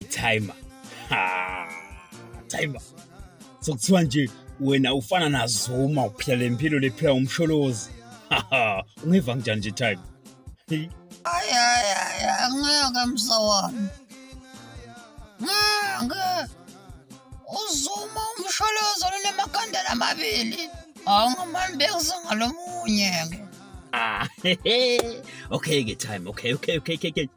timer ha timer so kuthiwa nje wena ufana na Zuma uphila lempilo lephila umsholozi ha ungeva kanjani nje timer ay ay ay ngeke msawami ngeke uzuma umsholozi onemakhandela amabili awungamani bekuzingalomunye ke Ah, okay ke time. Okay, okay, okay, okay, okay.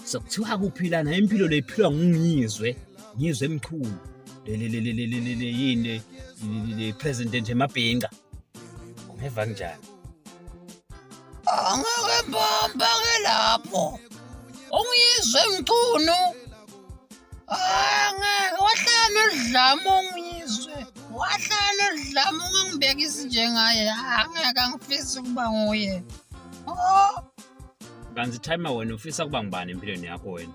So kuthiwa kuphi lana impilo leyiphilwa ngingizwe. Ngizwe emkhulu. Le le le le le le le yini le president emabhinqa. Ungeva njani? Angeke mbamba ke lapho. Ungizwe mchunu. Ah, ngeke wahlala nodlame ungizwe wahlala nodlame ungangibeka izinje ngaye angeke angifisi ukuba nguye oh kanti time wena ufisa kuba ngubani empilweni yakho wena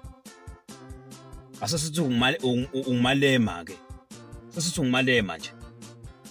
asesithi ungumalema ke sesithi ungumalema nje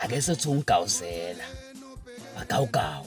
ake sothi ungigawuzela magawugawu